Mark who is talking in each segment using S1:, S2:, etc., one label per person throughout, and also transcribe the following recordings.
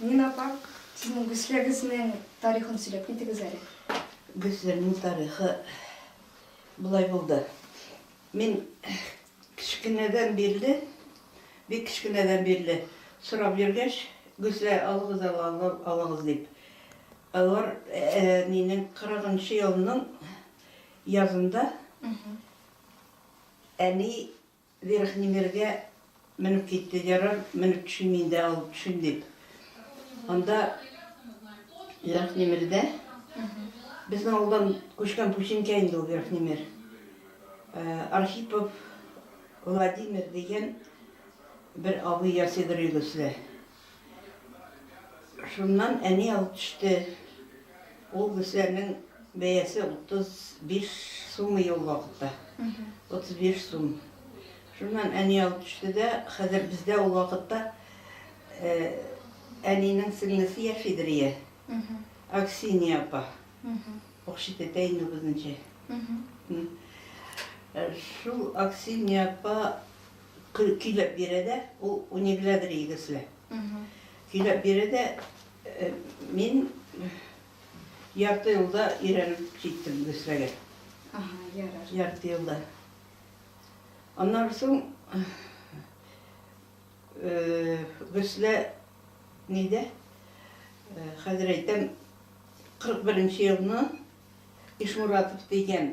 S1: Нина апа, сезнең Гөсләгезнең тарихын сөйләп китегез әле. Гөсләгезнең
S2: тарихы болай булды. Мин кечкенәдән бирле, бик кечкенәдән бирле сорап йөргәч, Гөслә алыгыз, алыгыз дип. Алар э, минем 40 елның Язында әни Верхний Миргә менеп китте, ярар, менеп төшим инде, алып төшим дип. Анда Верхний Мирдә безнең авылдан күчкән пүчинкә инде ул Верхний Мир. Архипов Владимир дигән бер абый ясыйдыр өйгә силә. Шуннан әни алып төште. Ул Гөсләрнең бәясе 35 сум иде ул вакытта. 35 сум. Шуннан әни алып төште дә, хәзер бездә ул вакытта әнинең сеңлесе яшидер ия. Аксинья апа. Укчы тетя инде ул безнеңчә. Шул Аксинья апа Көйләп бирә дә, ул унигелә бер егесле. Көйләп бирә дә, мин ярты елда өйрәнеп җиттем егесләгә. Ярты елда. Аннан соң Гөслә нидә? Хәзер әйтәм, 41 нче елны Ишмуратов дигән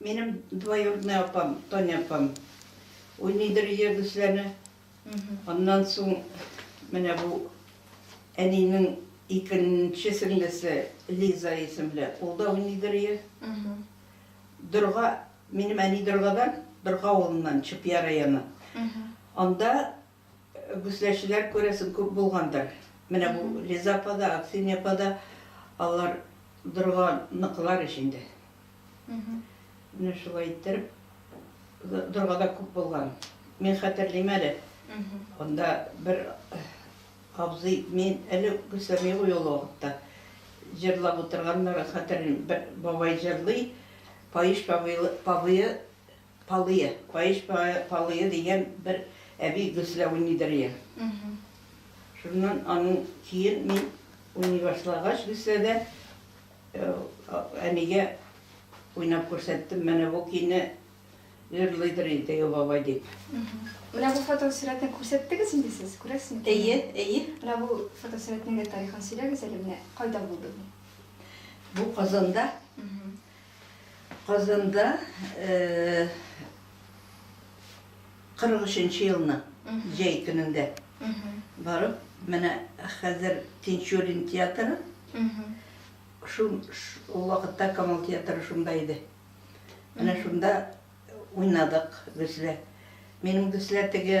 S2: Минем двоюродный апам, Таня апам уйныйдыр өйдә гөсләне. Аннан соң менә бу әнинең икенче сеңлесе Лиза исемле, ул да уйныйдыр өйдә. Дорга, минем әни Доргадан, Дорга авылыннан, Чупья районы. Анда Гөсләчеләр, күрәсең, күп булгандыр. Менә бу Лиза апа да, Аксинья апа да, алар дорга ныклар ич инде. Менә шулай иттереп, дорга да күп булган. Мин хәтерлим әле, анда бер абзый, мин әле гөсләми гуй ул вакытта, җырлап утырганнарын хәтерлим, бер бабай җырлый, Паеш павые, Палые, паеш палые дигән бер әби гөсләве нидер ия. Шуннан аның чиен мин уйный башлагач гөсләдә, әнигә уйнап күрсәттем, менә бу көйне җырлыйдыр инде теге бабай дип. Менә бу
S1: фотосурәтне күрсәттегез инде сез, күрәсез микән? Әйе, әйе. Менә
S2: бу
S1: фотосурәтнең дә тарихын сөйләгез әле, менә кайда булды бу? Бу
S2: Казанда, Казанда 43 нче елның җәй көнендә барып, менә хәзер Тинчурин театры, шул вакытта Камал театры шунда иде. Менә шунда уйнадык бездә. Минем бездә теге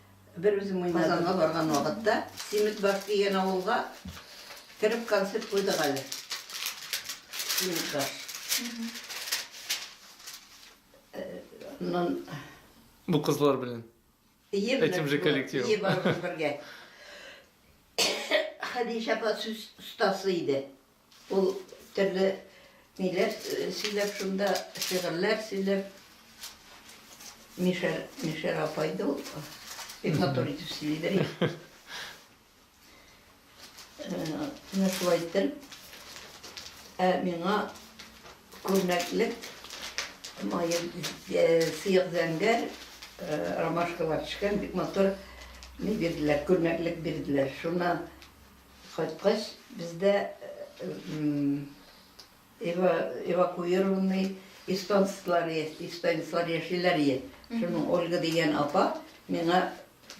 S2: Бер үзем уйнадым. Казанга барган вакытта Симетбаш дигән авылга кереп концерт куйдык әле. Симетбаш.
S3: Аннан Бу кызлар белән. Ем Этим же коллектив. Ем бергә.
S2: Хәдичә апа сүз остасы иде. Ул төрле ниләр сөйләп шунда, шигырьләр сөйләп, Мишәр, Мишәр апай да ул бик матур итеп сөйлидер. Менә шулай итеп, ә миңа күрнәклек мае сыек зәңгәр ромашкалар төшкән бик матур ни бирделәр, күрнәклек бирделәр. Шуннан Кайткач, бездә эвакуированный эстонецлар яшиләр ие. Шуның Ольга дигән апа миңа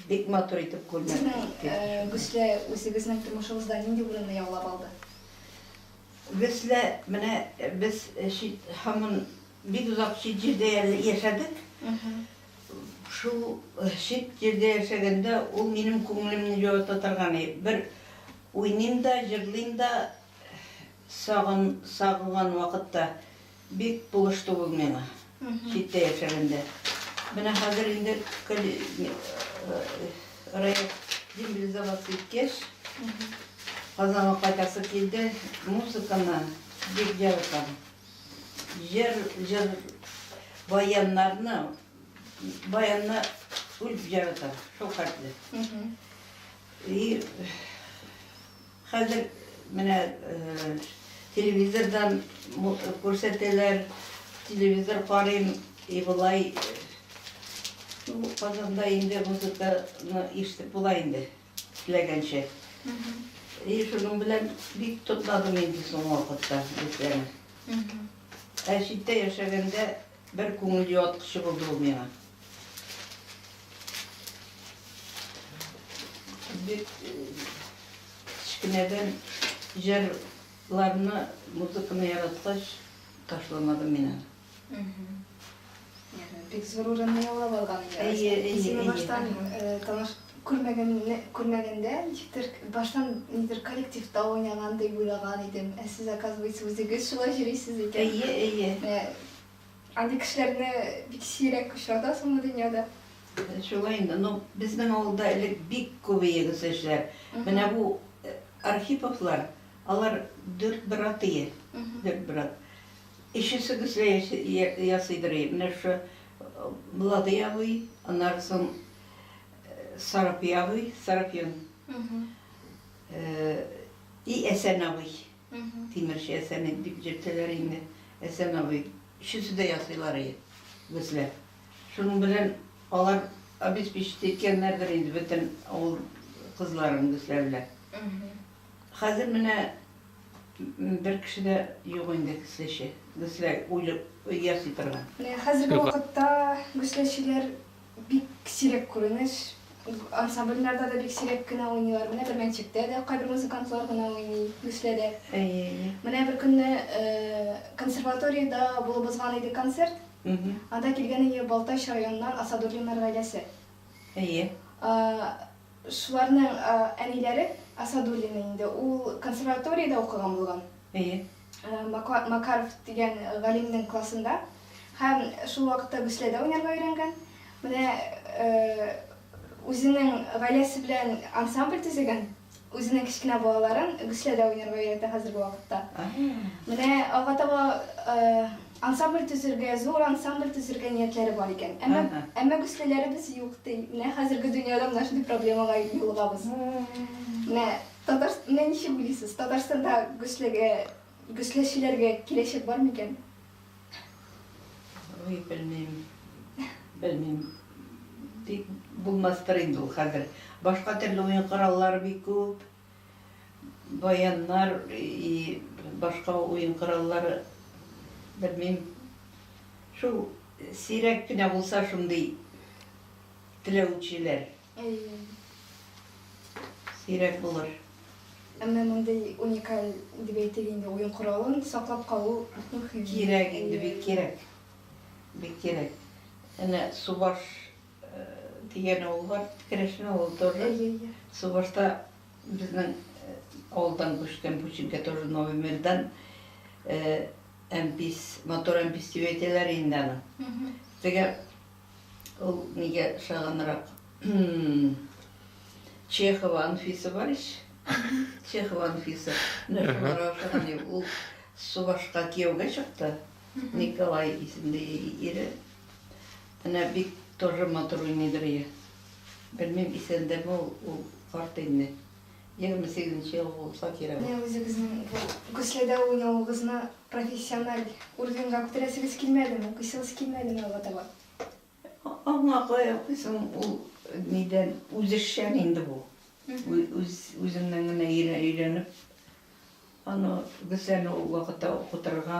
S2: бик матур итеп күлмәк текте. Гөслә
S1: үзегезнең тормышыгызда нинди урынны яулап алды? Гөслә,
S2: менә без һаман Бик озак чит җирдә яшәдек. Шул чит җирдә яшәгәндә ул минем күңелемне җылыта торган. Бер уйныйм да, җырлыйм да, сагын, сагынган вакытта бик булышты ул миңа. Читтә яшәгәндә. Менә хәзер инде Раят дембилизоваться иткәч, Казанга кайтасы килде, музыканы бик яратам. Җыр, җыр, баяннарны, баянны үлеп яратам, шул хәтле. И, хәзер менә э, телевизордан күрсәтәләр, телевизор карыйм, и болай Казанда инде музыканы ишетеп була инде. Теләгәнчә. И шуның белән бик тотладым инде соңгы вакытта бетләрен. Ә читтә яшәгәндә бер күңел юаткычы булды ул миңа. Бик кечкенәдән җырларны, музыканы яраткач, ташламадым мин аны.
S1: Бик зур урынны яулап алган инде. Әйе, әйе. Баштан таныш күрмәгәнне күрмәгәндә ничектер баштан нидер коллективта уйнаган дип уйлаган идем. Ә сез оказывается үзегез шулай йөрисез икән. Әйе, әйе. Андый кешеләрне бик сирәк очратасың бу дөньяда. Шулай инде.
S2: Ну, безнең авылда элек бик күп егыз эшләр. Менә бу Архиповлар, алар дүрт брат ие. Дүрт брат. Өчесегез дә ясыйдыр, әйе. Менә шушы Владый абый, аннары соң Сарапи абый, Сарапион. И Әсән абый. Тимерче Әсән дип йөртәләр инде. Әсән абый. Өчесе дә ясыйлар, әйе, безгә. Шуның белән алар обеспечить иткәннәрдер инде бөтен авыл кызларын безгә белән. Хәзер менә Бер кеше дә юк инде гөсләче. Гөслә үлеп ясый торган. Хәзерге вакытта
S1: гөсләчеләр бик сирәк күренеш. Ансамбльләрдә дә бик сирәк кенә уйныйлар. Менә бер мәнчектә дә кайбер музыкантлар гына уйный гөсләдә. Әйе, әйе. Менә бер көнне консерваториядә булып узган иде концерт. Анда килгән иде Балтач районыннан Асадуллиннар гаиләсе. Әйе. Шуларның әниләре Асадуллина инде. Ул консерваториядә укыган булган. Әйе. Макаров дигән галимнең классында һәм шул вакытта гөсләдә уйнарга өйрәнгән. Менә үзенең гаиләсе белән ансамбль төзегән. Үзенең кечкенә балаларын гөсләдә уйнарга өйрәтә хәзерге вакытта. Менә алга таба Ансамбль төзергә, зур ансамбль төзергә ниятләре бар икән. Әмма, әмма гөслиләребез юк, ди. Менә хәзерге дөньяда менә шундый проблемага юлыгабыз. Менә Татар, менә ничек уйлыйсыз, Татарстанда гөслегә, гөсләчеләргә киләчәк бар микән?
S2: Уй, белмим, белмим. Тик булмастыр инде ул хәзер. Башка төрле уен кораллары бик күп. Баяннар и башка уен кораллары, белмим, шул сирәк кенә булса шундый теләүчеләр. Әйе. Сирәк булыр. Әмма
S1: мондый уникаль дип әйтик инде уен коралын саклап калу мөһим. Кирәк инде, бик
S2: кирәк. Бик кирәк. Әнә субаш. Дигән авыл бар, керәшен авылы тоже. Субашта безнең авылдан күчкән Пучинка тоже Новый Мирдан. Әмпис, мотор әмпис дип әйтәләр инде аны. Теге ул нигә шаганрак Чехова Анфиса бар ич. Чехова Анфиса. Ул Субашка кияүгә чыкты. Николай исемле ире. Әнә бик торры матур уйный Дөрия. Белмим исәндәме ул, ул карт инде. Егерме сигезенче ел булса кирәк. Менә үзегезнең бу
S1: Көследә уйнавыгызны профессиональ уровеньга күтәрәсегез килмәдеме, укыйсыгыз килмәдеме алга таба?
S2: Аңа кая укыйсың, ул нидән, үзешчән инде бу. Үз, үзеңнән генә өйрәнеп. Аны Гөсәне ул вакытта укытырга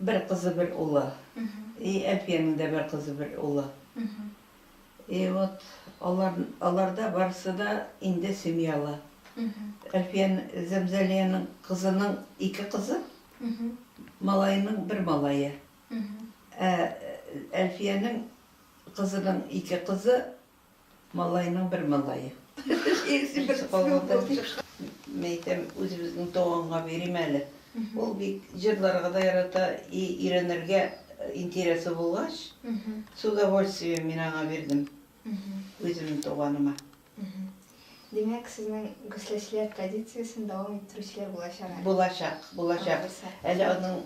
S2: Бер кызы, бер улы. И Әлфиянең дә бер кызы, бер улы. И вот алар, алар да барысы да инде семьялы. Әлфия Зәмзәлиянең кызының ике кызы, малаеның бер малае. Ә Әлфиянең кызының ике кызы, Малайның бер малае. Икесе берсе калганда бик мин әйтәм, үзебезнең туганга бирим әле. Ул бик җырларга да ярата, и өйрәнергә интересы булгач, с удовольствием мин аңа бирдем. Үземнең туганыма.
S1: Димәк, сезнең гөсләчеләр традициясен дәвам иттерүчеләр булачак әле. Булачак, булачак.
S2: Алайса. Әле аның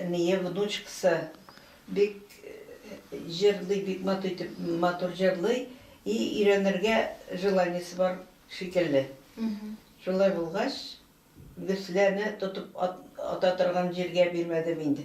S2: энее, внучкасы. Бик җырлый бик матур итеп матур җырлый и өйрәнергә желаниесе бар шикелле шулай булгач гөсләне тотып ата торган җиргә бирмәдем инде.